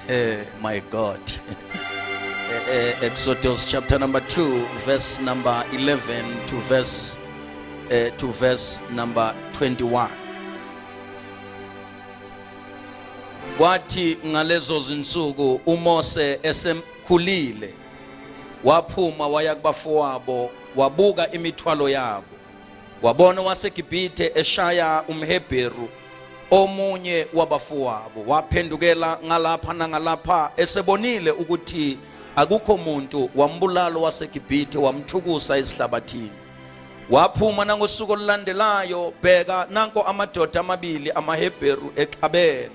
Eh my God. Eh, eh, Exodus chapter number 2 verse number 11 to verse uh, to verse number 21. Kwathi ngalezo zinsuku uMose esemkhulile waphuma waya kubafowabo wabuka imithwalo yabo Wabona waseGibhithe eshaya umHebheru omunye wabafowabo waphendukela ngalapha nangalapha esebonile ukuthi akukho muntu wambulalo waseGibhithe wamthukusa esihlabathini waphuma nangosuku olulandelayo bheka nanko amadoda amabili amaHebheru exabene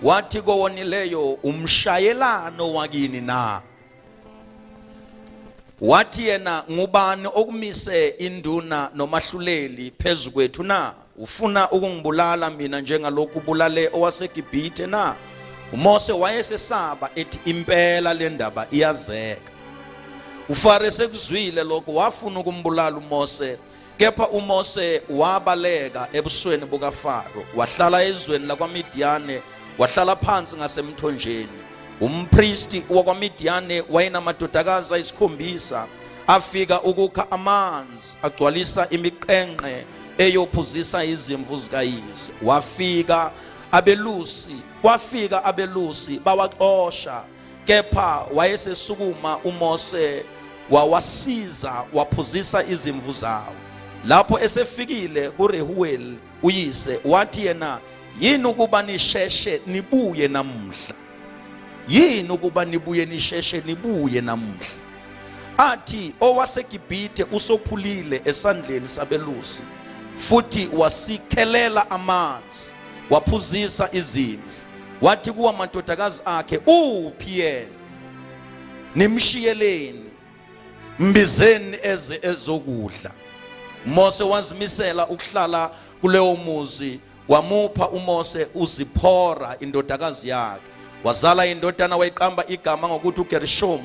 wathi kowonileyo umshayelano wakini na wathi yena ngubani okumise induna nomahluleli phezu kwethu na ufuna ukungibulala mina njengalokhu ubulale owaseGibhithe na uMose wayesesaba ethi impela le ndaba iyazeka uFaro sekuzwile lokho wafuna ukumbulala uMose Kepha uMose wabaleka ebusweni bukaFaro, wahlala ezweni lakwaMidiyane, wahlala phansi ngasemthonjeni. Umpristi wakwaMidiyane wayenamadodakazi ayisikhombisa, afika ukukha amanzi, agcwalisa imiqenqe eyophuzisa izimvu zikayise. Wafika abelusi, kwafika abelusi bawaxosha. kepha wayesesukuma uMose wawasiza waphuzisa izimvu zawo lapho esefikile kuRehuel uyise wathi yena yini ukuba nisheshe nibuye namuhla yini ukuba nibuye nisheshe nibuye namuhla athi owaseGibhithe usophulile esandleni sabelusi futhi wasikhelela amanzi waphuzisa izimvu wathi kuwa amadodakazi akhe uphi yena nimshiyeleni mbizeni eze ezokudla Mose wazimisela ukuhlala kuleyo muzi wamupha uMose uZiphora indodakazi yakhe wazala indodana wayiqamba igama ngokuthi uGershom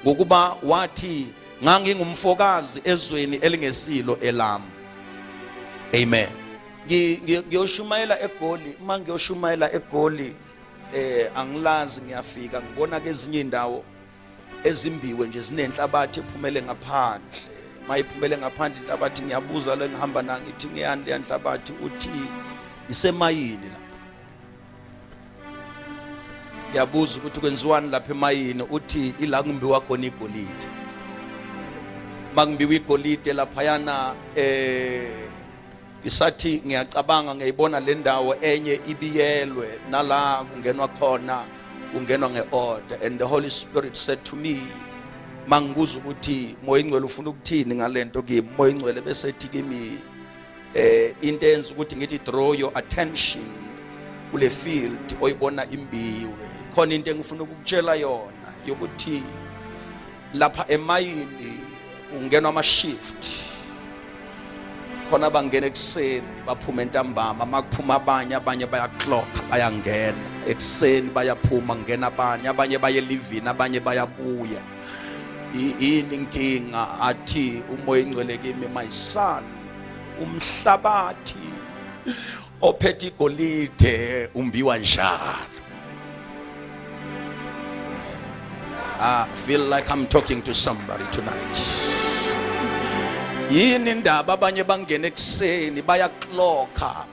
ngokuba wathi ngangingumfokazi ezweni elingesilo elami amen ngiyoshumayela egoli uma ngiyoshumayela egoli eh angilazi ngiyafika ngibona kezinye indawo ezimbiwe nje zinenhlabathi ephumele ngaphandle mayiphumele ngaphandle inhlabathi ngiyabuza le ngihamba na ngithi ngiyani le nhlabathi uthi isemayini la ngiyabuza ukuthi kwenziwani lapha emayini uthi ila kumbiwa khona igolide makumbiwa igolide laphayana eh isathi ngiyacabanga ngiyibona le ndawo enye ibiyelwe nala kungenwa khona kungenwa nge-order and the holy spirit said to me mangikuza ukuthi moya ingcwele ufuna ukuthini ngalento kimi moya ingcwele bese ethi kimi eh into enza ukuthi ngithi draw your attention kule field oyibona imbiwe khona into engifuna ukukutshela yona yokuthi lapha emayini ungenwa ama-shift khona bangena ekuseni baphume entambama uma kuphuma abanye abanye bayaclocka bayangena ekuseni bayaphuma kungena abanye abanye baye elivini abanye bayabuya yini inkinga athi umoya ingcwele kimi my son umhlabathi ophethe igolide umbiwa njalo I feel like I'm talking to somebody tonight yini indaba abanye bangena ekuseni bayaklokha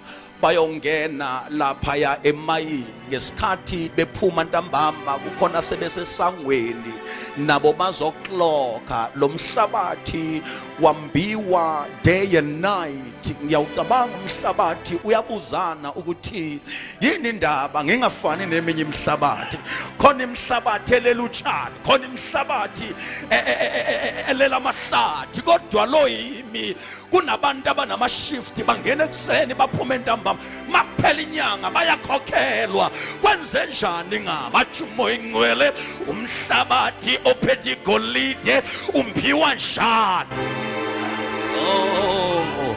bayongena laphaya emayini ngesikhathi bephuma ntambama kukhona sebesesangweni nabo bazoklokha lo mhlabathi wambiwa day and night ngiyawucabanga umhlabathi uyabuzana ukuthi yini indaba ngingafani neminye imihlabathi khona imihlabathi elela utshani khona imihlabathi e, e, e, elela amahlathi kodwa lo yimi kunabantu abanamashifti bangena ekuseni baphume entambama makuphela inyanga bayakhokhelwa kwenze njani ngabathi umoya ingcwele umhlabathi ophethe igolide umphiwa njani oh,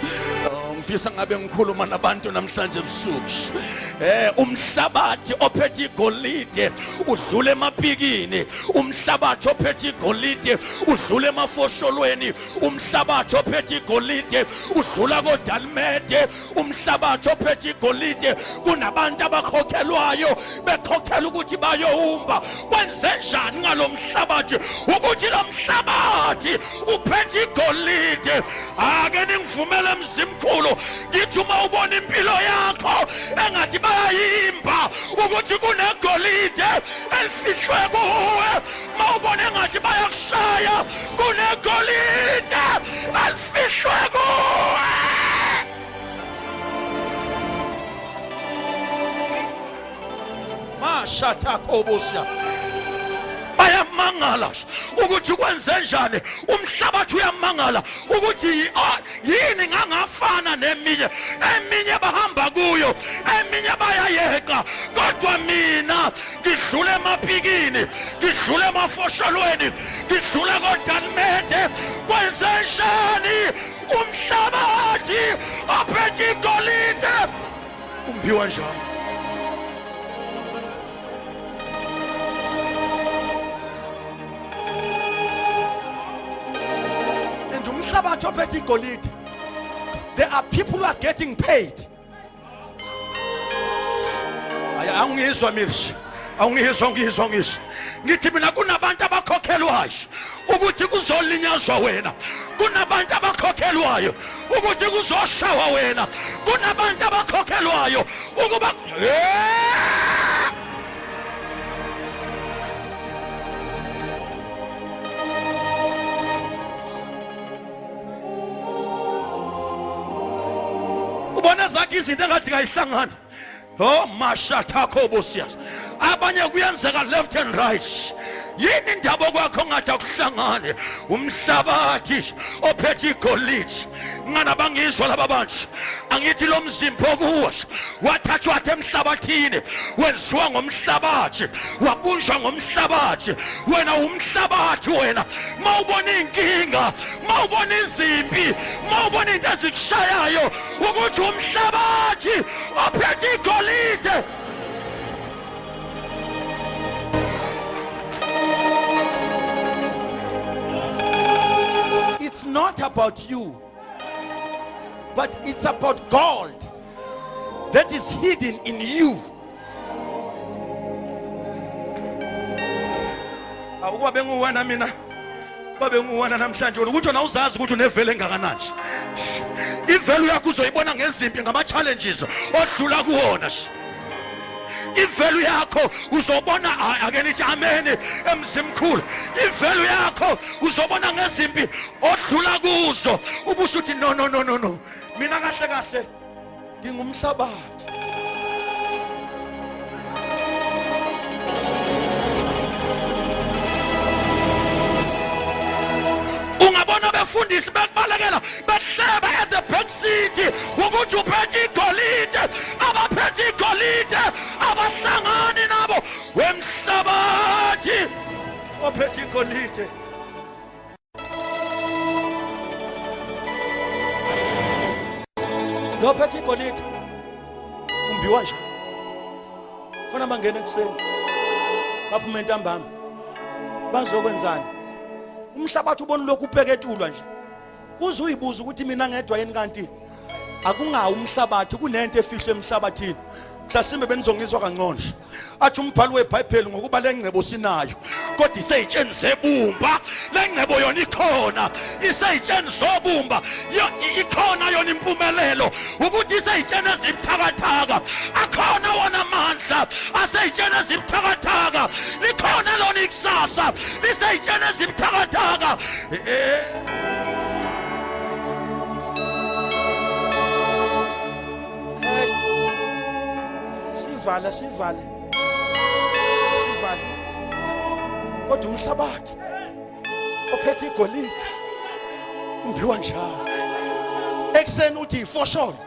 oh, ngifisa ngabe ngikhuluma nabantu namhlanje ebusuku eh umhlabathi ophethe igolide udlule emapikini umhlabathi ophethe igolide udlule emafosholweni umhlabathi ophethe igolide udlula kodalimede umhlabathi ophethe igolide kunabantu abakhokhelwayo bekhokhela ukuthi bayowumba kwenze njani ngalo mhlabathi ukuthi lo mhlabathi uphethe igolide ake ningivumele mzimkhulu ngithi uma ubona impilo yakho engathi bayayimba ukuthi kunegolide elifihlwe kuwe uma ubona engathi bayakushaya kunegolide Fihlwe kuwe! Mashatakobusha. Bayamangala ukuthi kwenze njani umhlabathi uyamangala ukuthi yini ngangafana neminye eminye bahamba kuyo eminye bayayeqa kodwa mina ngidlule emapikini ngidlule emafosholweni ngidlule kodanimende kwenzenjani umhlabathi aphethe igolide umphiwa njalo and umhlabathi ophethe igolide there are people who are getting paid angizwa mishi awungizwa ngizwa ngisho ngithi mina kunabantu abakhokhelwayo ukuthi kuzolinyazwa wena kunabantu abakhokhelwayo ukuthi kuzoshawa wena kunabantu abakhokhelwayo ukuba ubona zakhe izinto engathi kayihlangani oh mashathakho bosiyas abanye kuyenzeka left and right yini indaba kwakho ngathi akuhlangane umhlabathi ophethe igolide ngana bangizwa laba bantu angithi lo mzimba okuwasho wathathwa athe emhlabathini wenziwa ngomhlabathi wabunjwa ngomhlabathi wena umhlabathi wena uma ubona iy'nkinga uma ubona izimpi uma ubona into ezikushayayo ukuthi umhlabathi ophethe igolide It's not about you. but it's about gold that is hidden in you awukuba benguwena mina babe nguwena namhlanje wena ukuthi wena uzazi ukuthi unevele engakanani ivelu yakho uzoyibona ngezimpi ngama-challenges odlula kuwona ivelu yakho uzobona ake nithi ameni emzimkhulu ivelu yakho uzobona ngezimpi odlula kuzo ubusho uthi no no no no no mina kahle kahle ngingumhlabathi ungabona befundisi bekubalekela behleba at the back City ukuthi uphethe igolide abaphethe igolide abahlangani nabo wemhlabathi ophethe igolide lophethe igolide umbiwa nje khona bangena ekuseni baphuma entambama bazokwenzani umhlabathi ubona lokhu ubheketulwa nje uze uyibuza ukuthi mina ngedwa yini kanti akungawo umhlabathi kunento efihlwe emhlabathini mhlasimbe benizongizwa kangcono athi umbhalo webhayibheli ngokuba le ngcebo sinayo kodwa iseyitsheni zebumba le ngcebo yona ikhona iseyitsheni zobumba ikhona yona impumelelo ukuthi iseyitsheni ezibuthakathaka akhona wona amandla aseyitsheni ezibuthakathaka likhona lona ikusasa liseyitsheni ezibuthakathaka sivale sivale sivale kodwa umhlabathi ophethe igolide umbiwa njalo ekuseni uthi ifosholo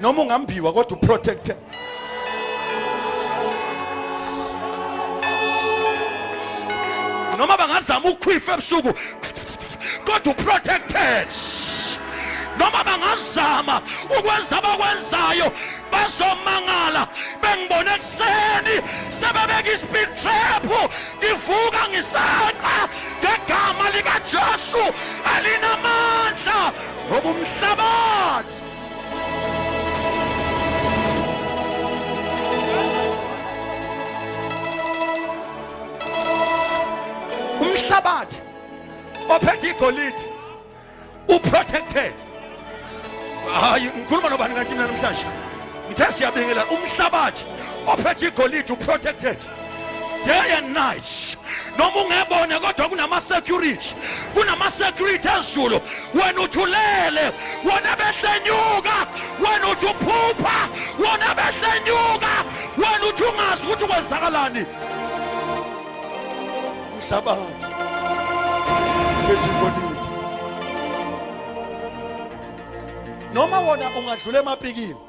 noma ungambiwa kodwa uprotected noma bangazama ukukhwifa ebusuku kodwa uprotected noma bangazama ukwenza abakwenzayo bazomangala bengibone ekuseni sebebeka i-speed trap ngivuka ngisanqa ngegama likajesu alinamandla ngoba umhlabathi umhlabathi ophethe igolide uprotected hayi ngikhuluma nobani kanti mina namhlanje ngithe siyabingelela umhlabathi ophethe igolide uprotected day and night noma ungebone kodwa kunama-security kunama-security ezulu wena uthi ulele wona behlenyuka wena uthi uphupha wona behlenyuka wena uthi ungazi ukuthi kwenzakalani mhlabathi noma wona ungadlula emapikini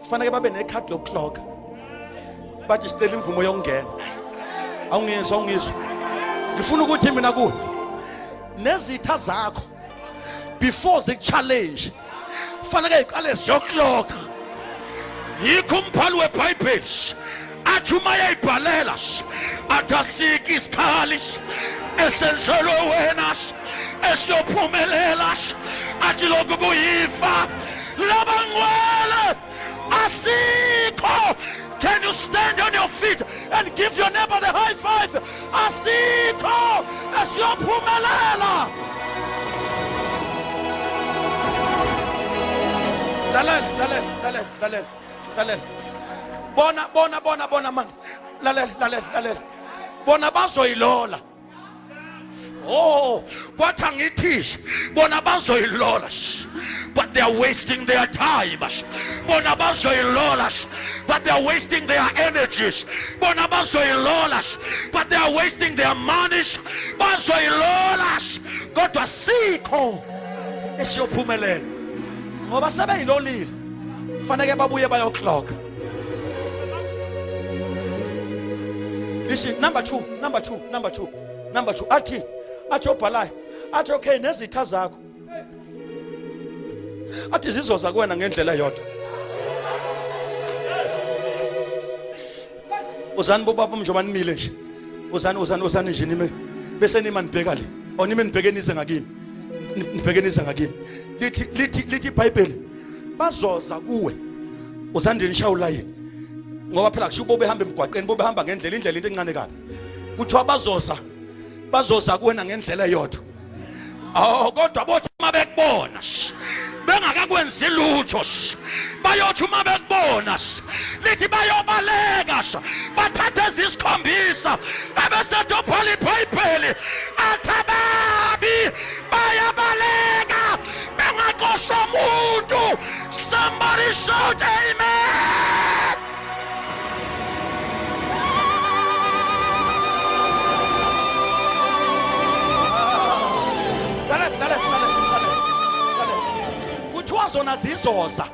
kufanele babe nekhadi lokuhloga bathi sicela imvumo yokungena awungizwa awungizwa ngifuna ukuthi mina kuwe nezitha zakho before zikuchallenge kufanele iqale ziyokuloga yikho umbhali webhayibheli athi uma yayibhalela athi asike isikhali esenzelwe wena esiyophumelela athi lokhu kuyifa labangcwele asikho can you stand on your feet and give your neighbor the high five asikho esiyophumelela lalela lalela lalela lalela lalela bona bona bona bona manje lalela lalela lalela bona bazoyilola Oh, kwathi angithishi bona bazoyilola but they are wasting their time bona bazoyilola but they are wasting their energies bona bazoyilola but they are wasting their money bazoyilola kodwa sikho esiyophumelela ngoba sebeyilolile faneke babuye bayoclock ishi number 2 number 2 number 2 number 2 athi athi obhalayo athi okay nezitha zakho athi zizoza kuwena ngendlela yodwa uzani bobaba mnjoba nimile nje uzani uzani uzani nje nime bese nima nibheka le onime nibheke nize ngakimi ngibhekenisa ngakini lithi lithi lithi iBhayibheli bazoza kuwe usandini shawula yini ngoba phela kusho bobe hamba emgwaqeni bobe hamba ngendlela indlela into encane kabi kuthiwa bazoza bazoza kuwena ngendlela eyodwa aw kodwa bothi uma bekubona bengakakwenzi lutho bayothi uma bekubona lithi bayobaleka bathathe ezisikhombisa ebesedophola ibhayibheli athi ababi bayabaleka bengaqoshwa muntu somebody shout amen kuthiwa zona zizoza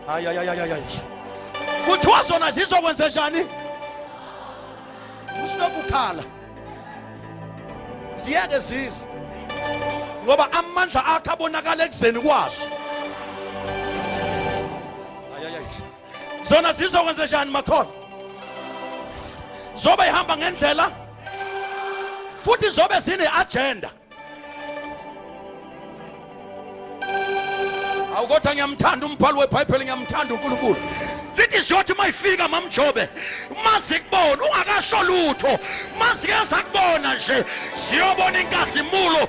hayi hayi hayi hayi kuthiwa zona zizokwenze njani usinokukhala ziyeke zize ngoba amandla akhe abonakala ekuzeni kwaso zona zizokwenze njani makhona zobe ihamba ngendlela futhi zobe zine-agenda awu kodwa ngiyamthanda umbhalo webhayibheli ngiyamthanda unkulunkulu lithi ziyothi uma ifika mamjobe uma zikubona ungakasho lutho uma zike zakubona nje ziyobona inkazimulo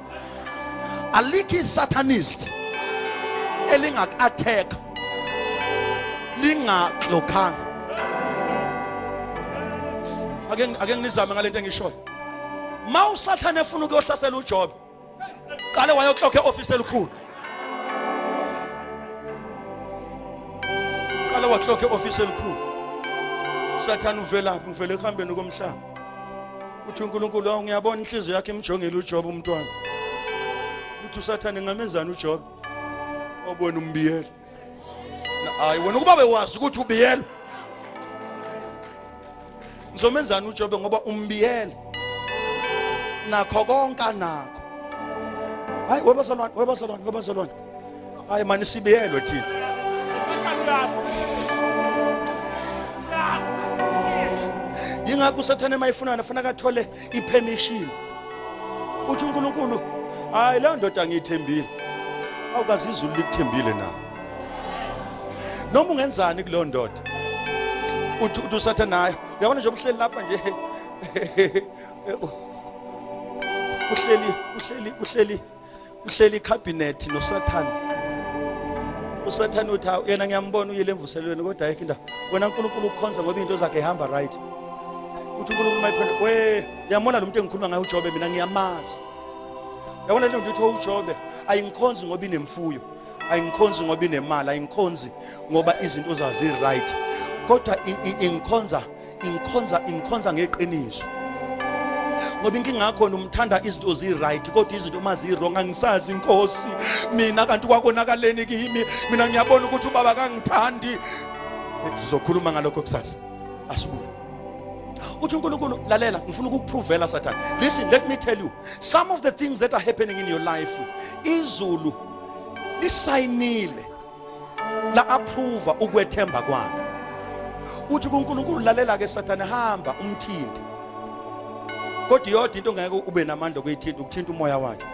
alikho isatanist elingaku-attack lingaglokhanga ake ake nginizame ngalento engishoyo ma usathane efuna ukuyohlasela uJobe qale wayoklokha eoffice elikhulu qale waklokha eoffice elikhulu sathane uvelaphi ngivele ekuhambeni komhlaba uthi uNkulunkulu awu ngiyabona inhliziyo yakhe imjongile uJob umntwana uthi usathane ngamenzani uJob obona umbiyela hayi wena ukuba bewazi ukuthi ubiyela ngizomenzani uJob ngoba umbiyela nakho konke anakho hayi webazalwane webazalwane webazalwane hayi mani sibiyelwe thina yingakho usathane uma efunana faneke athole ipermission uthi unkulunkulu hayi leyo ndoda ngiyithembile awukazi izulu likuthembile na noma ungenzani kuleyo ndoda uthi uthi usathe nayo uyabona nje ubuhleli lapha nje uhleli uhleli uhleli uhleli ikhabhinethi nosathane usathane uthi hawu yena ngiyambona uyile emvuselelweni kodwa ayikho indawo wena unkulunkulu ukukhonza ngoba izinto zakhe ihamba right uthi unkulunkulu mayiphendula we yamona lo muntu engikhuluma ngaye ujobe mina ngiyamazi yabona lento uthi ujobe ayingikhonzi ngoba inemfuyo ayingikhonzi ngoba inemali ayingikhonzi ngoba izinto zazi right kodwa ingikhonza ingikhonza ingikhonza ngeqiniso ngoba inkinga yakho umthanda izinto zi-right kodwa izinto uma zi-wrong angisazi inkosi mina kanti kwakonakaleni kimi mina ngiyabona ukuthi ubaba kangithandi sizokhuluma ngalokho kusasa asibuye uthi uNkulunkulu lalela ngifuna ukukupruvela sathane listen let me tell you some of the things that are happening in your life izulu lisayinile la approve ukwethemba kwami uthi kuNkulunkulu lalela ke sathane hamba umthinte kodwa iyodwa into ngeke ube namandla okuyithinta ukuthinta umoya wakhe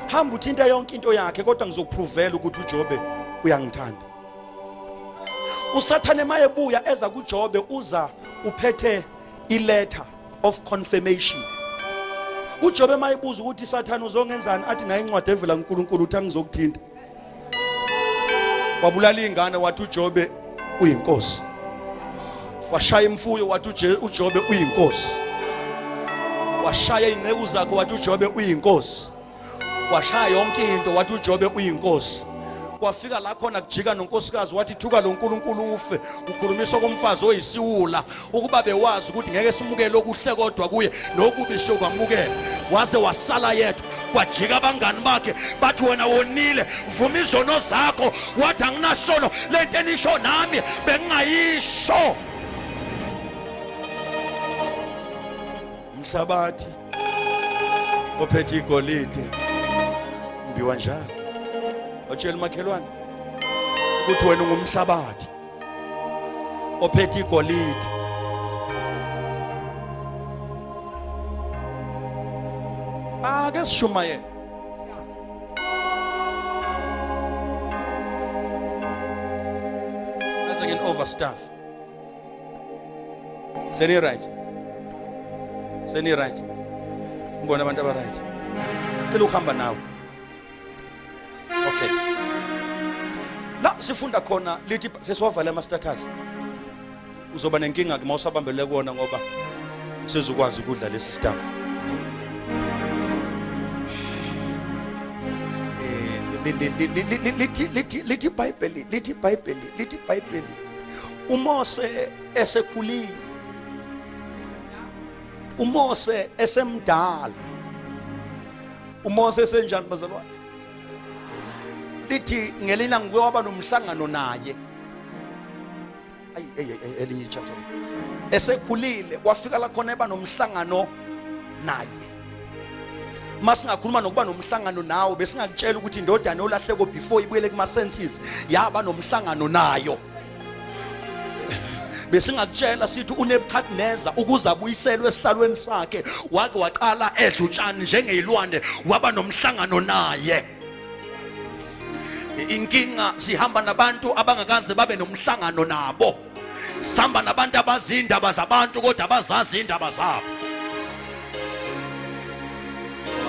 hamba uthinta yonke into yakhe kodwa ngizokuprovela ukuthi uJobe uyangithanda usathane maye buya eza kuJobe uza uphethe iletter of confirmation uJobe mayibuza ukuthi sathane uzongenzani athi nayi incwadi evela kuNkulunkulu uthi angizokuthinta wabulala ingane wathi uJobe uyinkosi washaya imfuyo wathi uJobe uyinkosi washaya inceku zakhe wathi uJobe uyinkosi washaya yonke into wathi uJobe uyinkosi kwafika la khona kujika nonkosikazi wathi thuka lo nkulunkulu ufe ukhulumisa komfazi oyisiwula ukuba bewazi ukuthi ngeke simukele okuhle kodwa kuye nokubi sokwamukela waze wasala yedwa kwajika abangani bakhe bathi wena wonile vuma izono zakho wathi anginasono le nto enisho nami bengingayisho mhlabathi ophethe igolide mbiwa njalo watshela umakhelwane ukuthi wena ungumhlabathi ophethe igolide ake ah, sishumayele as again overstaff seni right seni right ngibona abantu aba right cela ukuhamba nawe okay la sifunda khona lithi sesiwavale ama status uzoba nenkinga ke mawusabambele kuona ngoba sezukwazi ukudla lesi staff lithi ibhayibheli lithi ibhayibheli lithi ibhayibheli umose esekhulile umose esemdala uMose esenjani bazalwane lithi ngelina ngike waba nomhlangano naye ayi elinye ichapter esekhulile kwafika la khona eba nomhlangano naye masingakhuluma nokuba nomhlangano nawo besingakutshela ukuthi indodana yolahleko before ibuyele kuma senses yaba nomhlangano nayo besingakutshela sithi unebukadneza ukuze abuyiselwe esihlalweni sakhe wake waqala edla utshani njengeyilwane waba nomhlangano naye inkinga sihamba nabantu abangakaze babe nomhlangano nabo sihamba nabantu abazi indaba zabantu kodwa abazazi indaba zabo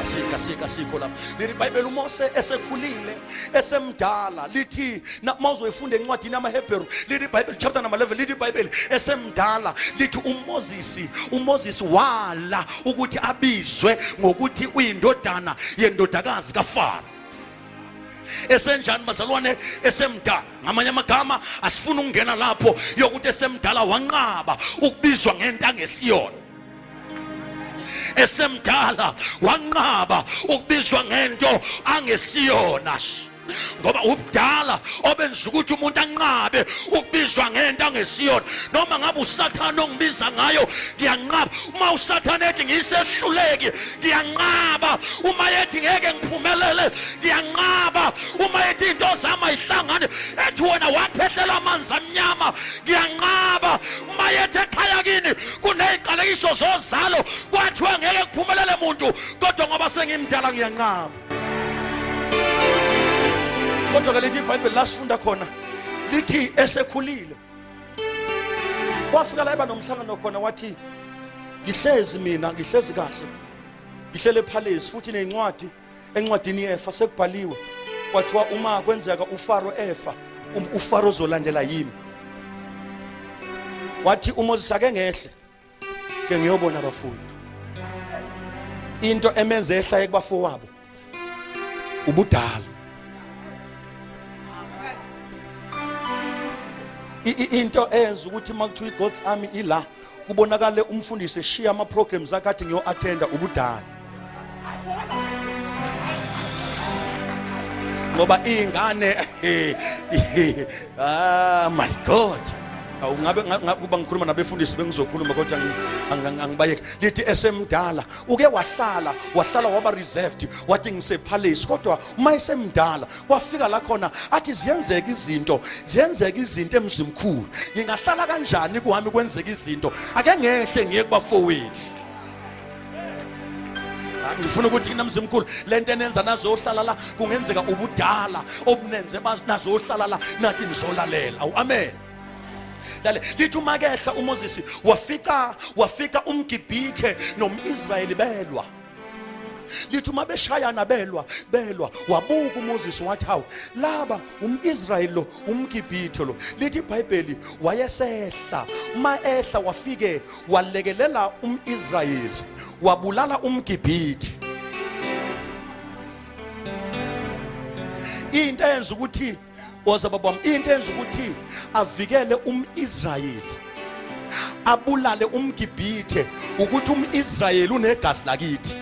asika sika sikho lapha leli bhayibheli umose esekhulile esemdala lithi uma uzoyifunda encwadini yamahebheru lithi ibhayibheli chapter number 11 lithi ibhayibheli esemdala lithi umozisi umozisi wala ukuthi abizwe ngokuthi uyindodana yendodakazi kafaro esenjani bazalwane esemdala ngamanye amagama asifuni ukungena lapho yokuthi esemdala wanqaba ukubizwa ngento angesiyona esemdala wanqaba ukubizwa ngento angesiyona ngoba ubudala obenza ukuthi umuntu anqabe ukubizwa ngento angesiyona noma ngabe usathane ongibiza ngayo ngiyanqaba uma usathane ethi ngiyisehluleki ngiyanqaba uma ethi ngeke ngiphumelele ngiyanqaba uma ethi into zami ayihlangani ethi wena waphehlela amanzi amnyama ngiyanqaba mayethe ekhaya kini kuneziqalekiso zozalo kwathiwa ngeke kuphumelele muntu kodwa ngoba sengimdala ngiyanqaba kodwa ke lithi ibhayibheli lasifunda khona lithi esekhulile wafika la eba nomhlangano khona wathi ngihlezi mina ngihlezi kahle ngihlele phalezi futhi nezincwadi encwadini yefa sekubhaliwe kwathiwa uma kwenzeka uFaro efa um, uFaro uzolandela yimi wathi uMoses ake ngehle ke ngiyobona abafundi into emenze ehla ekubafowabo ubudala into eyenza ukuthi uma kuthiwa i-gods army ila kubonakale umfundisi eshiya ama programs akhe athi ngiyo attenda ubudala ngoba ingane ah my god awungabe kuba ngikhuluma nabefundisi bengizokhuluma kodwa angibayeki lithi esemdala uke wahlala wahlala waba reserved wathi ngisepalace kodwa uma esemdala kwafika la khona athi ziyenzeka izinto ziyenzeka izinto emzimkhulu ngingahlala kanjani kuhami kwenzeka izinto ake ngehle ngiye kubafowethu ah, ngifuna ukuthi namzimkhulu lento enenza nazohlala la kungenzeka ubudala obunenze nazohlala la nathi nizolalela awu amen lale lithi uma kehla uMoses wafika wafika umgibhithe nomIsrayeli belwa lithi uma beshayana belwa belwa wabuka uMoses wathi hawu laba umIsrael lo umGibhithe lo lithi iBhayibheli wayesehla uma ehla wafike walekelela umIsrael wabulala umGibhithe into enza ukuthi woza baba wami into enza ukuthi avikele umIsrayeli abulale umgibhithe ukuthi umIsrayeli unegazi lakithi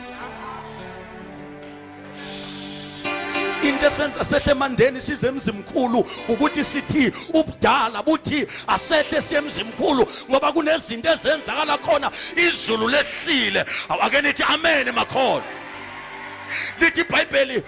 into esenza sehle emandeni size emzimkhulu ukuthi sithi ubudala buthi asehle siye emzimkhulu ngoba kunezinto ezenzakala khona izulu lehlile awake nithi amen emakhona lithi ibhayibheli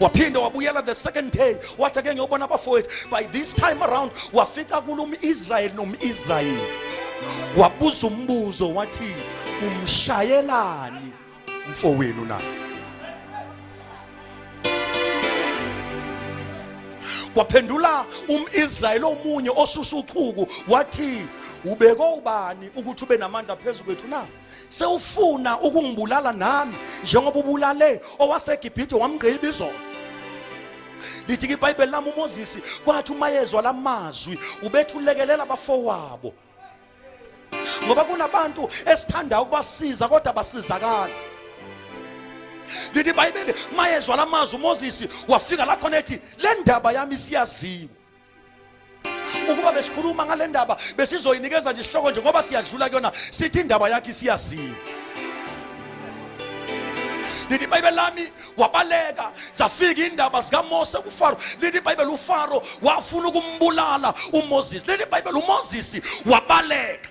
waphinde wabuyela the second day wathi ake ngiyobona abafowethu by this time around wafika kulo um-israyeli nom-israyeli wabuza umbuzo wathi umshayelani mfowenu na kwaphendula um-israyeli omunye osusa uchuku wathi ubeke ubani ukuthi ube namandla phezu kwethu na sewufuna ukungibulala nami njengoba ubulale owaseGibhithe wamgqiba izolo lithi ke ibhayibheli lami umoses kwathi uma yezwa la mazwi ubethi ulekelela abafowabo ngoba kunabantu esithanda ukubasiza kodwa basizakali lithi ibhayibheli uma yezwa la mazwi umoses wafika la khona ethi le ndaba yami siyaziwa ukuba besikhuluma ngale ndaba besizoyinikeza nje isihloko nje ngoba siyadlula kuyona sithi indaba yakhe isiyaziwa lithi ibhayibheli lami wabaleka zafika indaba zikamose kufaro lithi ibhayibheli ufaro wafuna ukumbulala umoses lithi ibhayibheli umoses wabaleka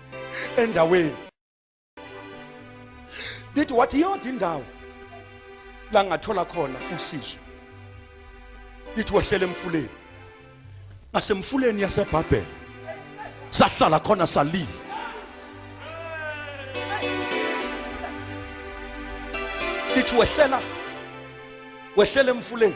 endaweni lithi wathi iyodwa indawo la ngathola khona usizo lithi wehlele emfuleni ngasemfuleni yasebhabhela sahlala khona salile lithi wehlela wehlela emfuleni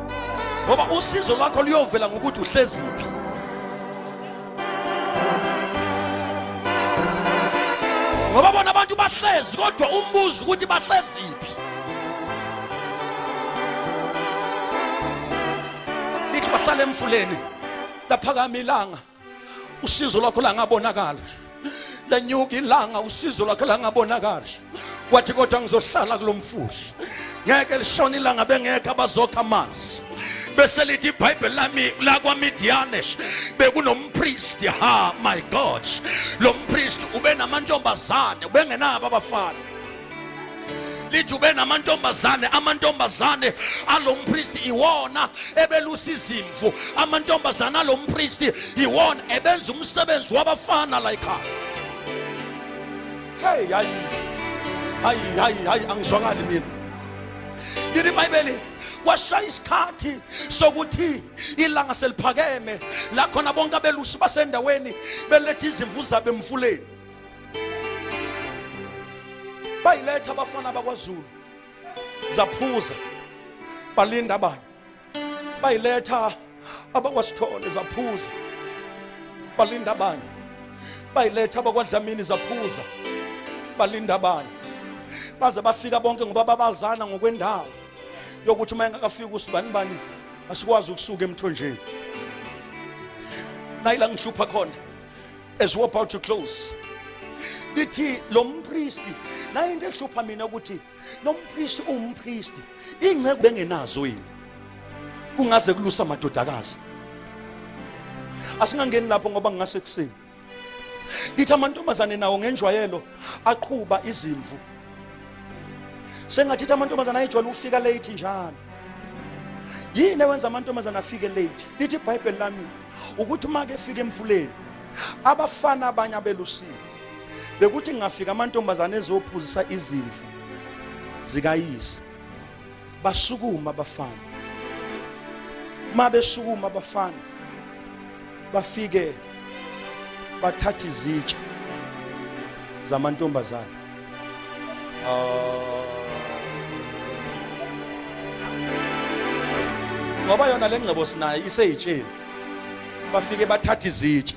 ngoba usizo lwakho luyovela ngokuthi uhleziphi ngoba bona abantu bahlezi kodwa umbuzo ukuthi bahleziphi lithi bahlala emfuleni laphakama ilanga usizo lwakho langabonakala lanyuka ilanga usizo lwakhe langabonakali wathi kodwa ngizohlala kulo mfushi ngeke lishona ilanga bengekho abazokha amanzi bese lithi ibhayibheli lami lakwamidiyanesh bekunompristi ha my god lo mpristi ubenamantombazane ubengenabo abafana lithi ube namantombazane amantombazane alompristi iwona ebelusa izimvu amantombazane alompristi iwona ebenza umsebenzi wabafana la ekhaya hey hayi hayi hayi hayi angizwakali mina yini ibhayibheli kwashaya isikhathi sokuthi ilanga seliphakeme la khona bonke abelusi basendaweni beletha izimvu zabo emfuleni bayiletha abafana bakwaZulu zaphuza balinda abanye bayiletha abakwasithole zaphuza balinda abanye bayiletha abakwadlamini zaphuza balinda abanye baze bafika bonke ngoba babazana ngokwendawo yokuthi uma engakafiki usibani bani asikwazi ukusuka emthonjeni nayila ngihlupha khona as we're about to close lithi lo mpristi naye into ehlupha mina ukuthi lo mpristi uwumpristi ingceku bengenazo yini kungaze kulusa amadodakazi asingangeni lapho ngoba ngingase kusini lithi amantombazane nawo ngenjwayelo aqhuba izimvu sengathithi amantombazane ayijwayele ukufika late njalo yini ewenza amantombazane afike late lithi ibhayibheli lami ukuthi uma kefika emfuleni abafana abanye abelusile bekuthi ngingafika amantombazane ezophuzisa izimvu zikayise basukuma abafana uma besukuma abafana bafike bathatha izitsha zamantombazane Oh. Ngoba yona le ngcebo sinayo iseyitsheni. Bafike bathatha izitsha.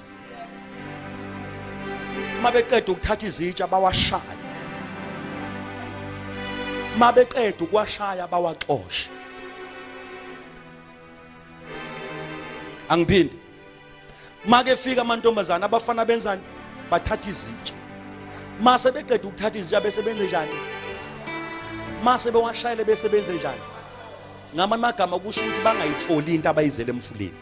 Uma beqeda ukuthatha izitsha bawashaya. Uma beqeda ukuwashaya bawaxoshe. Angiphindi make fika amantombazane abafana benzani bathatha izitsha mase beqeda ukuthatha izitsha bese benze njani mase bewashayele bese benze njani ngamanye amagama kusho ukuthi bangayitholi into abayizele emfuleni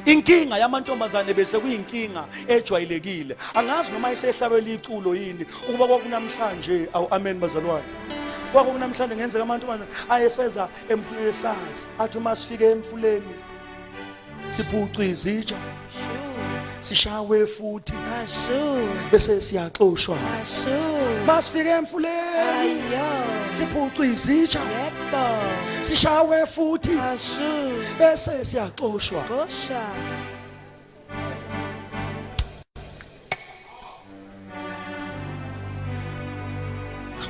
inkinga yamantombazane bese kuyinkinga ejwayelekile angazi noma isehlabela iculo yini ukuba kwakunamhlanje awu amen bazalwane kwakunamhlanje ngenzeka amantombazane ayeseza emfuleni sazi athi uma sifike emfuleni siphucwa izitsha sishawe futhi bese siyaxoshwa masifike emfuleni siphucwa izitsha sishawe futhi bese siyaxoshwa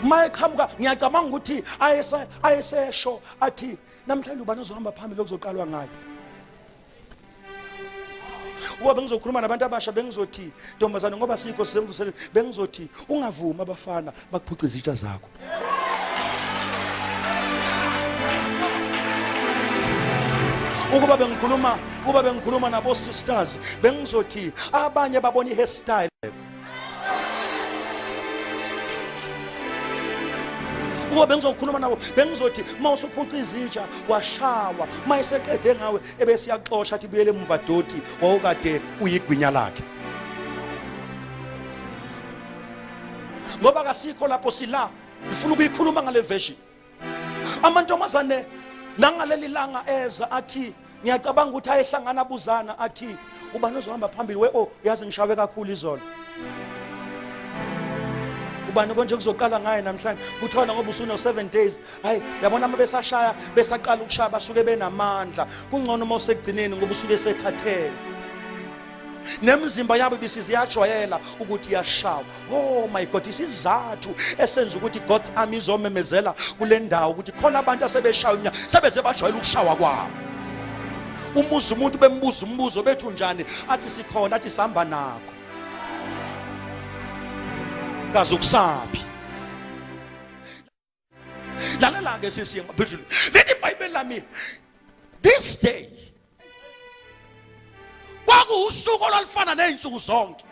uma eqhamuka ngiyacabanga ukuthi ayesesho athi namhlanje ubani ozohamba phambili okuzoqalwa ngakhe uba bengizokhuluma nabantu abasha bengizothi ntombazane ngoba sikho sisemvuseleni bengizothi ungavumi abafana bakuphuca izitsha zakho ukuba bengikhuluma ukuba bengikhuluma nabo sisters bengizothi abanye babona i hairstyle ukuba bengizokhuluma nabo bengizothi uma usuphuca izitsha washawa uma eseqede ngawe ebesiyaxosha athi buyele emuva doti wawukade uyigwinya lakhe ngoba kasikho lapho sila ngifuna ukuyikhuluma ngale version amantombazane nangaleli langa eza athi ngiyacabanga ukuthi ayehlangana abuzana athi ubani ozohamba phambili we o oh, uyazi ngishawe kakhulu izolo ubani konje kuzoqala ngaye namhlanje kuthiwa ngoba usune 7 days hayi yabona uma besashaya besaqala ukushaya basuke benamandla kungcono uma usegcineni ngoba usuke sekhathele nemizimba yabo ibisiziyajwayela ukuthi yashawa oh my god isizathu esenza ukuthi god's army izomemezela kule ndawo ukuthi khona abantu asebeshawa inyama sebeze bajwayela ukushawa kwabo umuzi umuntu bembuza umbuzo bethu njani athi sikhona athi sihamba nakho kaze ukusaphi lalela ke sisi ngaphezulu lithi ibhayibheli lami this day kwakuwusuku olwalufana nezinsuku zonke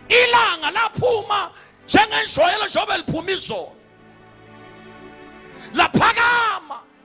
ilanga laphuma njengenjwayelo njengoba liphuma izolo laphakama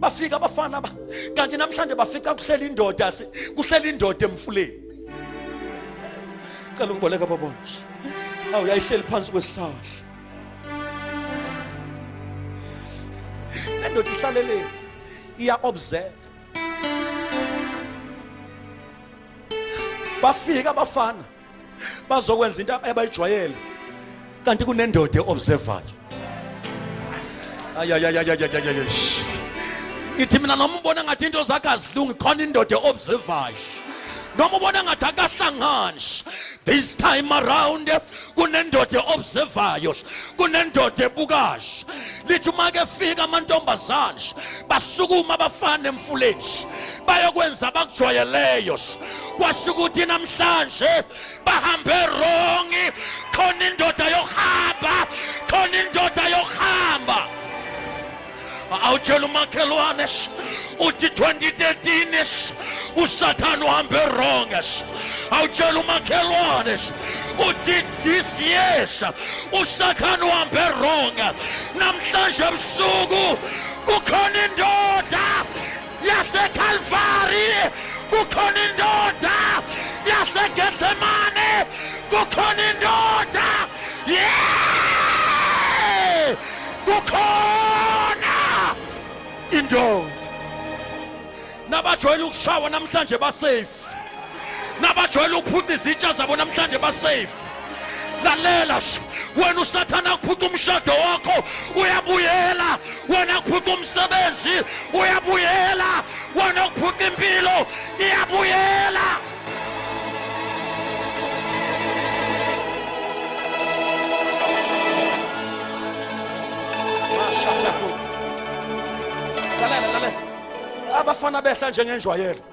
bafika abafana ba kanti namhlanje bafica kuhlela indoda kuhlela indoda emfuleni cela ungiboleka babona awu yayihleli phansi kwesihlahla le ndoda ihlaleleni iya observe bafika abafana bazokwenza into abayijwayele kanti kunendoda eobservayo ayayayayayayay ngithi mina noma ubona ngathi into zakhe azilungi khona indoda eobservayo noma ubona ngathi akahlangani this time around kunendoda eobservayo kunendoda ebukayo lithi uma ke fika amantombazane basukuma abafana emfuleni bayokwenza abakujwayeleyo kwasho ukuthi namhlanje bahambe wrong khona indoda yokuhamba khona indoda yokuhamba awutshela umakhelwane uthi 2013 usathane uhambe wrong awutshela umakhelwane uthi this years usathane uhambe wrong namhlanje ebusuku kukhona indoda yaseKalvari kukhona indoda yaseGetsemane kukhona indoda yeah kukhona indoda nabajwayele ukushawa namhlanje basafe nabajwayele ukuphuca izitsha zabo namhlanje basafe lalela wena usathane akuphuca umshado wakho uyabuyela wena kuphuca umsebenzi uyabuyela wena kuphuca impilo iyabuyela abafana behla njengenjwayelo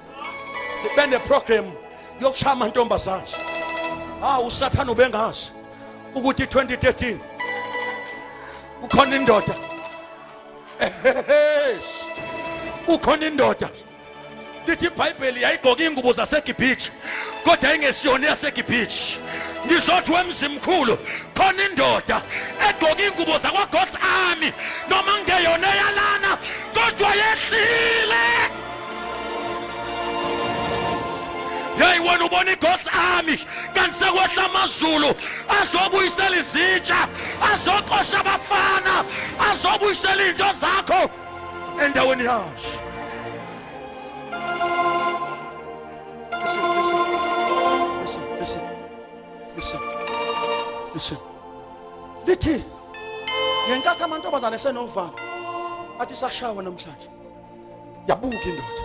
bene program yokushaya amantombazana ha ah, usathana ubengazi ukuthi 2013 kukhona indoda kukhona indoda lithi ibhayibheli yayigqoka ingubo zasegibhitshi kodwa yayingesiyona eyasegibhitshi ngizothi wemzimkhulu khona indoda egqoka ingubo zakwagods army noma ngeyona eyalana kodwa yehlile yeyi wena ubona igods army kanti sekwehla amazulu azobuyisela izitsha azoqosha abafana azobuyisela iy'nto zakho endaweni yazo Listen. Lithi ngenkathi amantombazane esenovalo athi sashawa namhlanje. yabuka indoda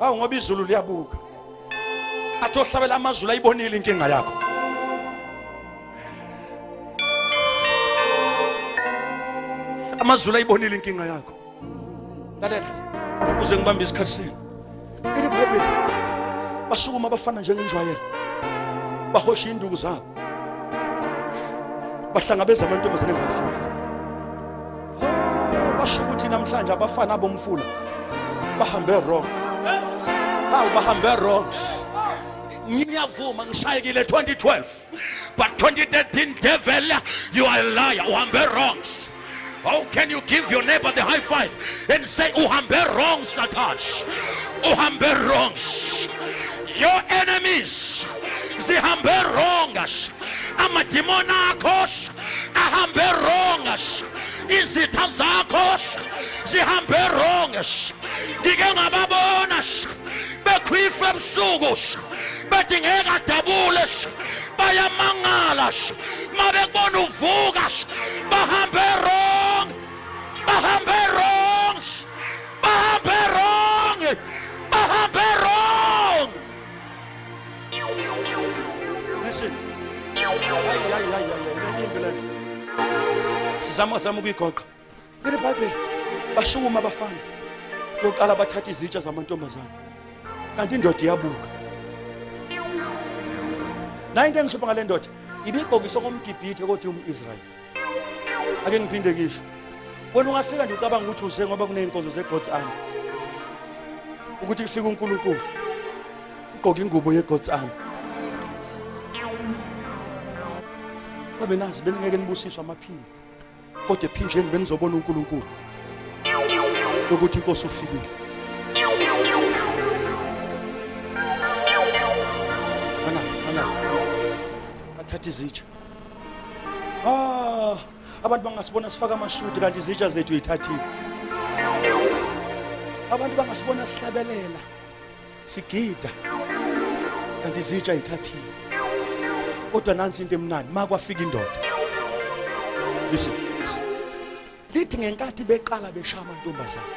awu ngoba izulu liyabuka athi ohlabela amazulu ayibonile inkinga yakho amazulu ayibonile inkinga yakho lalela uze ngibambe isikhathi senu Ile Bhayibheli basukuma abafana njengenjwayelo bahosha induku zabo bahlangabeza amantombazane ngafufu oh, basho ukuthi namhlanje abafana abomfula bahambe wrong hawu bahambe wrong ngiyavuma ngishayekile 2012 But 2013 devil, you are a liar. Uhambe wrong. How can you give your neighbor the high five and say uhambe wrong Satash? Uhambe wrong. Your enemies zihambe wrong. Amadimoni akho ahambe wrong. Izitha zakho zihambe wrong. Ngike ngababona bekhwifa ebusuku bethi ngeke adabule bayamangala uma bekubona uvuka bahambe wrong bahambe wrong bahambe wrong bahambe wrong listen hayi hayi hayi hayi imbi lento sizama zama ukuyigoqa Leli Bible bashukuma abafana. Koqala bathatha izitsha zamantombazana. Kanti indoda iyabuka. Nayi into engihlupha ngale ndoda ibibhokisa komgibhithe kodwa umIsrael. Ake ngiphinde ngisho. Wena ungafika nje ucabanga ukuthi uze ngoba kuneyinkonzo zeGod's army. Ukuthi kufika uNkulunkulu. Ugqoka ingubo yeGod's army. babe nazi beningeke nibusiswe amaphimbo kodwa ephinjeni benizobona uNkulunkulu ukuthi inkosi ufikile ana ana athatha izitsha ah abantu bangasibona sifaka amashudi kanti izitsha zethu yithathile abantu bangasibona sihlabelela sigida kanti izitsha ithathile kodwa nansi into emnandi ma kwafika indoda listen listen lithi ngenkathi beqala beshaya amantombazane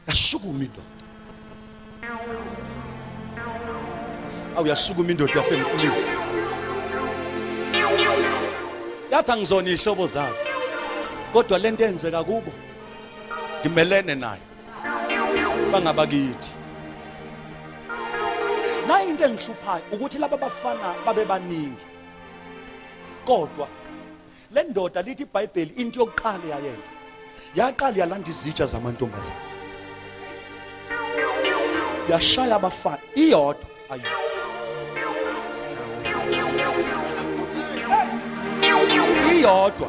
yasukuma indoda awu yasukuma indoda yasemfuliwe yathi angizona iy'hlobo zabo kodwa le nto eyenzeka kubo ngimelene nayo bangabakithi nayo into engihluphayo ukuthi laba bafana babe baningi kodwa le ndoda lithi ibhayibheli into yokuqala yayenza yaqala yalanda izitsha zamantombazana yashaya abafana iyodwa ayi iyodwa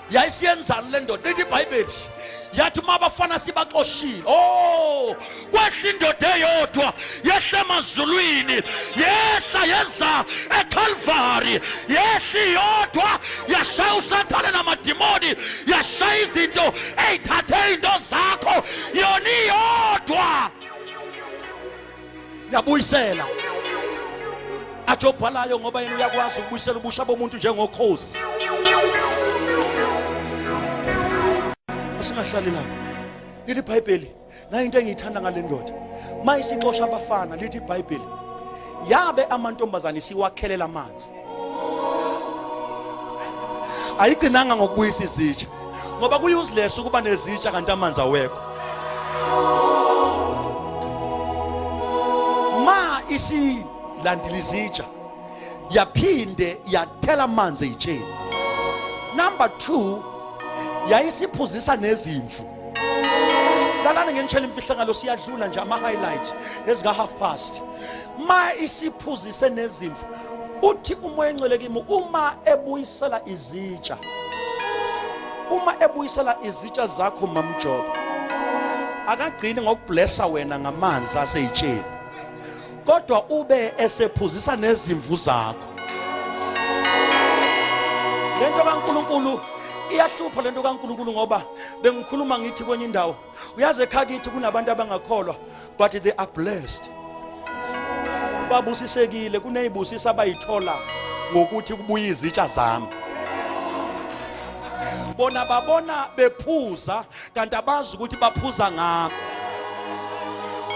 yayisiyenzani le ndoda lithi ibhayibheli yathi uma abafana sibaxoshile o oh, kwehla indoda eyodwa yehla emazulwini yehla yeza ekhalvari yehla iyodwa yashaya usathane namadimoni yashaya izinto eyithathe izinto zakho yona iyodwa yabuyisela athi obhalayo ngoba yena uyakwazi ukubuyisela ubusha bomuntu njengokhozi asingahlali lapho lithi ibhayibheli nayo into engiyithanda ngale ndoda uma isixosha abafana lithi ibhayibheli yabe amantombazane siwakhelela amanzi ayigcinanga ngokubuyisa izitsha ngoba kuyi-useless ukuba nezitsha kanti amanzi awekho ma isilandile izitsha yaphinde yathela amanzi eyitsheni number two yayisiphuzisa nezimvu lalani ngenitshela imfihlakalo siyadlula nje ama-highlight ezika-half past ma isiphuzise nezimvu uthi umoya engcwele kimi uma ebuyisela izitsha uma ebuyisela izitsha zakho mamjobo akagcini ngokublessa wena ngamanzi aseyitsheni kodwa ube esephuzisa nezimvu zakho lento kaNkuluNkulu iyahlupha lento kaNkuluNkulu ngoba bengikhuluma ngithi kwenye indawo uyazi ekhaya kithi kunabantu abangakholwa but they are blessed babusisekile kuneyibusisa abayithola ngokuthi kubuye izitsha zami bona babona bephuza kanti abazi ukuthi baphuza ngami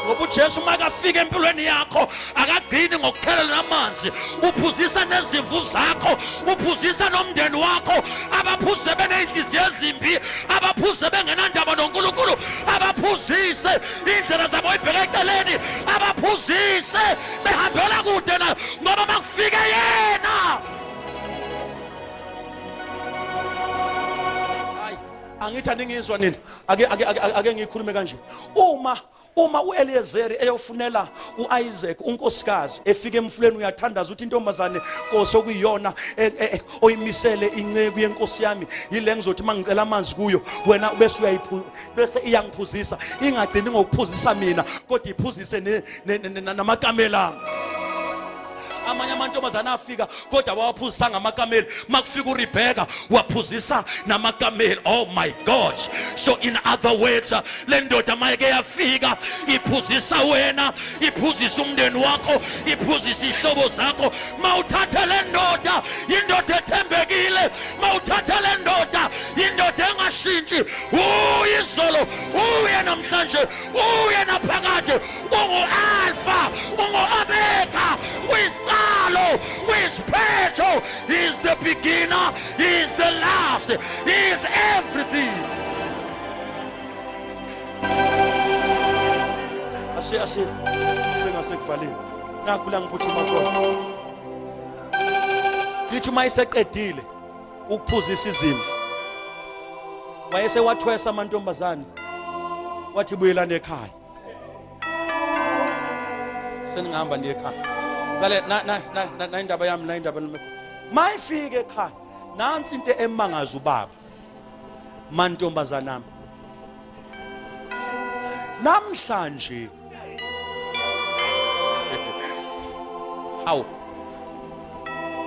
ngoba uJesu makafika empilweni yakho akagcini ngokuphelelwa namanzi uphuzisa nezimvu zakho uphuzisa nomndeni wakho abaphuze beney'nhliziyo ezimbi abaphuze bengenandaba nonkulunkulu abaphuzise iy'ndlela zabo ibheke eceleni abaphuzise behambela kude na ngoba makufike yena angithi aningizwa nina ake ngiyikhulume kanje uma uma uEliyezeri eyofunela uIsaac unkosikazi efika emfuleni uyathandaza uthi intombazane Nkosi okuyiyona e, e, e, oyimisele inceku yenkosi yami yile ngizothi mangicela amanzi kuyo wena bese uyayiphu bese iyangiphuzisa ingagcini ngokuphuzisa mina kodwa iphuzise namakamela amanye amantombazane afika kodwa wawaphuzisanga amakameli makufika uRebecca waphuzisa namakameli oh my god so in other words le ndoda mayeke yafika iphuzisa wena iphuzisa umndeni wakho iphuzisa ihlobo zakho mawuthathe le ndoda indoda ethembekile mawuthathe le ndoda indoda engashintshi uyizolo uye namhlanje uye naphakade Ungu-Alfa, ungu-Omega, uyisiqalo, uyisiphetho. He is the beginner, he is the last, he is everything. Ashe, ashe, sengasekuvalile. Nakhu la ngiphuthuma khona. Ngithi uma iseqedile ukuphuzisa izimvu wayesewathwesa amantombazane wathi buyelana ekhaya seningihamba ndiye ekhaya lale nayindaba yami nayindaba mayifike ekhaya nansi into emangaza ubaba mantombazanami namhlanje hawu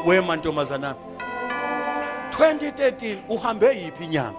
we mantombazanami 2013 uhambe yiphi inyanga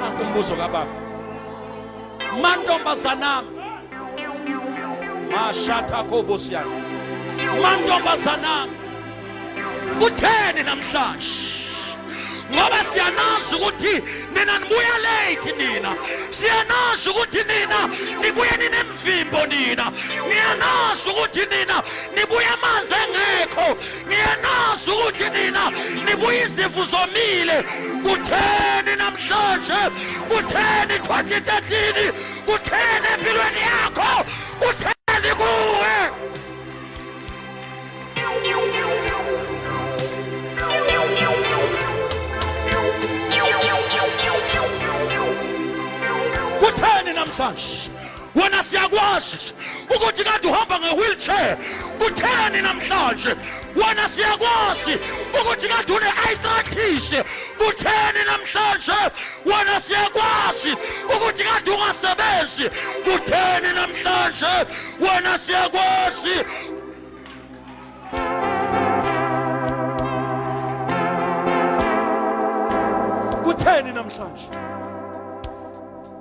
Nanku umbuzo kababa. Mantombazanami. Mashatha kobosiyana. Mantombazanami. Kutheni namhlanje? ngoba siyanazi ukuthi nina nibuya late nina siyanazi ukuthi nina nibuye ninemvimbo nina niyanazi ukuthi nina nibuya amanzi engekho Niyanazi ukuthi nina nibuye izimvu zomile. Kutheni namhlanje? Kutheni 2013? Kutheni empilweni yakho? Kutheni kuwe? Kutheni namhlanje? wena siyakwazi ukuthi kade uhamba nge-wheelchair kutheni namhlanje wena siyakwazi ukuthi kade une-arthritis kutheni namhlanje wena siyakwazi ukuthi kade ungasebenzi kutheni namhlanje wena siyakwazi kutheni namhlanje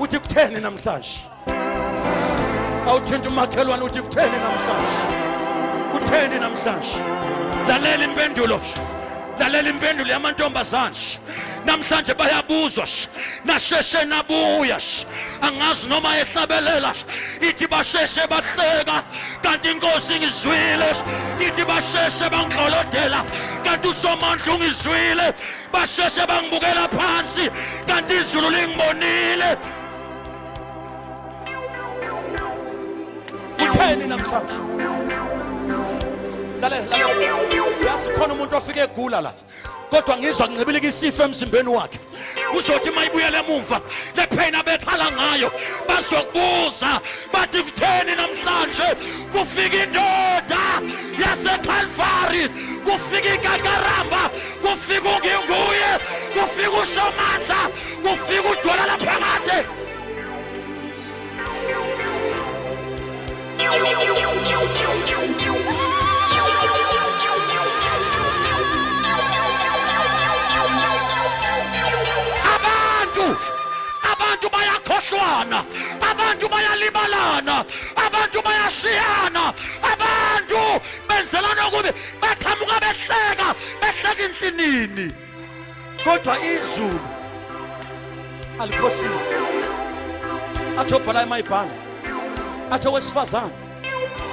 uthi kutheni namhlanje awuthinta umakhelwane uthi kutheni namhlanje kutheni namhlanje lalela impendulo lalela impendulo yamantombazane namhlanje bayabuzwa nasheshe nabuya angazi noma ehlabelela ithi basheshe bahleka kanti inkosi ngizwile ithi basheshe bangidlolodela kanti usomandla ungizwile basheshe bangibukela phansi kanti izulu lingibonile utheni namhlanje lalela lalela uyazi khona umuntu ofike egula la kodwa ngizwa kuncibilika isifo emzimbeni wakhe uzothi uma ibuyela emumva le pain abekhala ngayo bazokubuza bathi kutheni namhlanje kufika indoda yasekalvari kufika ikakaramba kufika unginguye kufika usomandla kufika udwala laphakade abantu abantu bayakhohlwana abantu bayalibalana abantu bayashiyana abantu benzelana okubi baqhamuka behleka behleka insinini kodwa izulu alikhohliwe athi obhala emayibhanga athi owesifazane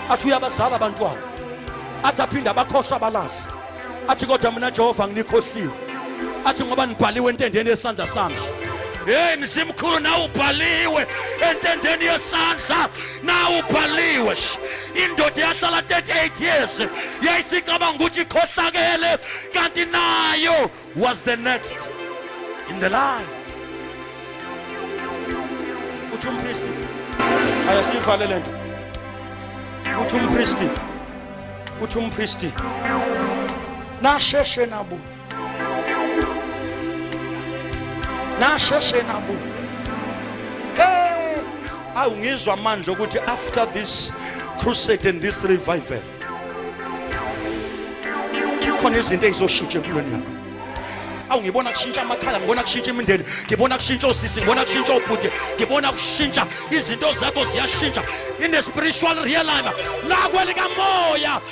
athi uyabazala abantwana athi aphinde abakhohlwa abalazi athi kodwa mina jehova nginikhohliwe athi ngoba nibhaliwe entendeni yesandla sami Hey mzimkhulu nawu ubhaliwe entendeni yesandla nawu ubhaliwe indoda yahlala 38 years yayisicabanga ukuthi ikhohlakele kanti nayo was the next in the line uthi umpristi ayasivale le nto uthi umpristi uthi umpristi nasheshe nabo nasheshe nabu awu ngizwa amandla ukuthi after this crusade and this revival khona izinto ezizoshintsha empilweni yakho awu ngibona kushintsha amakhaya ngibona kushintsha imindeni ngibona kushintsha osisi ngibona kushintsha obhuti ngibona kushintsha izinto zakho ziyashintsha in a spiritual realm la kwelikamoya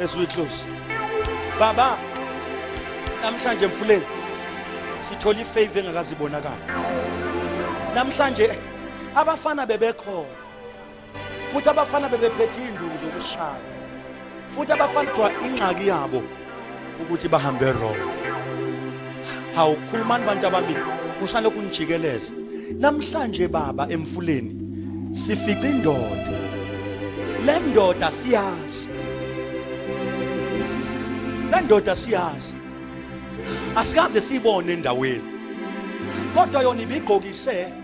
as we close baba namhlanje mfuleni sithola ifavor engakazibonakala namhlanje abafana bebekhona futhi abafana bebephethe induku zokushaya futhi abafana kuthiwa ingxaki yabo ukuthi bahambe wrong Hawu khulumani bantu ababili kushalo kunijikeleza. Namhlanje baba emfuleni sifica indoda. Le ndoda siyazi. Le ndoda siyazi. Asikaze sibone endaweni. Kodwa yona ibigqokise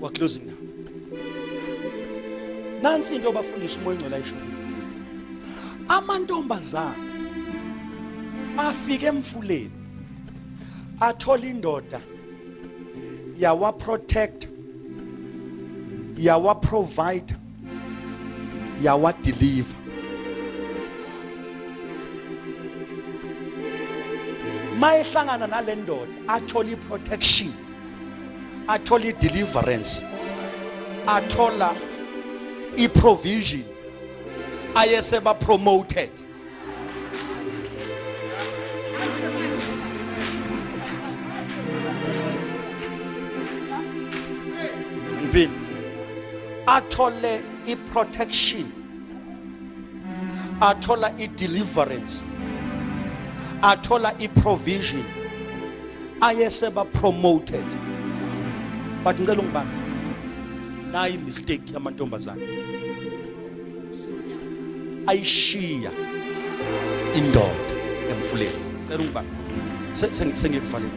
We're closing now. Nansi into obafundisa umoya ongcwele ayisho. Amantombazana afike emfuleni athola indoda yawa protect yawa provide yawadiliva mayehlangana nale ndoda athola i-protection athola i-deliverance athola i-provision ayesebapromoted Mpini athole i-protection athola i-deliverance athola i-provision ayeseba promoted but ngicela ungibani nayi mistake yamantombazane ayishiya indoda emfuleni cela ungiba sengikuvalele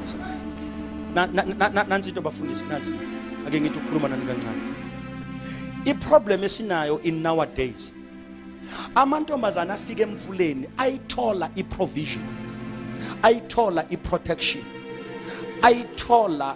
nansi into bafundisi nansi ake ngithi ukhuluma nani kancane iproblem esinayo in nowadays amantombazane afika emfuleni ayithola iprovision ayithola iprotection ayithola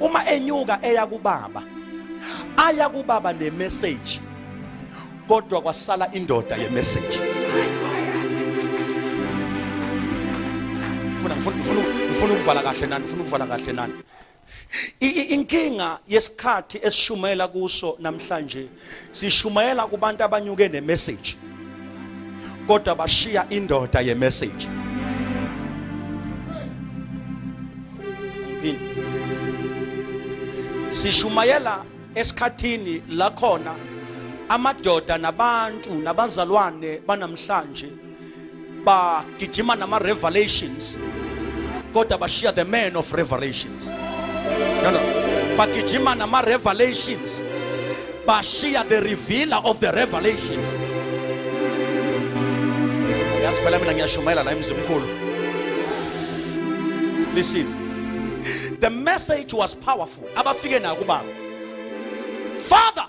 uma enyuka eya kubaba aya kubaba ne message kodwa kwasala indoda ye message ngifuna ngifuna ngifuna ngifuna ukuvala kahle nani ngifuna ukuvala kahle nani inkinga yesikhathi esishumela kuso namhlanje sishumayela kubantu abanyuke ne message kodwa bashiya indoda ye message sishumayela esikhathini la khona amadoda nabantu nabazalwane banamhlanje bagijima nama revelations kodwa bashiya the man of revelations no no bagijima nama revelations bashiya the revealer of the revelations yazi phela mina ngiyashumayela la emzimkhulu listen the message was powerful abafike nayo kubaba father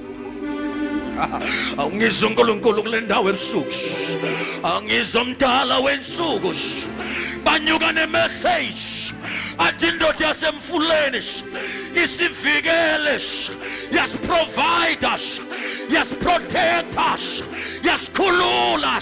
angizwa uNkulunkulu kule ndawo ebusuku angizwa umdala wensuku banyuka nemeseji athi indoda yasemfuleni isivikele yasiprovida yasiprotecta yasikhulula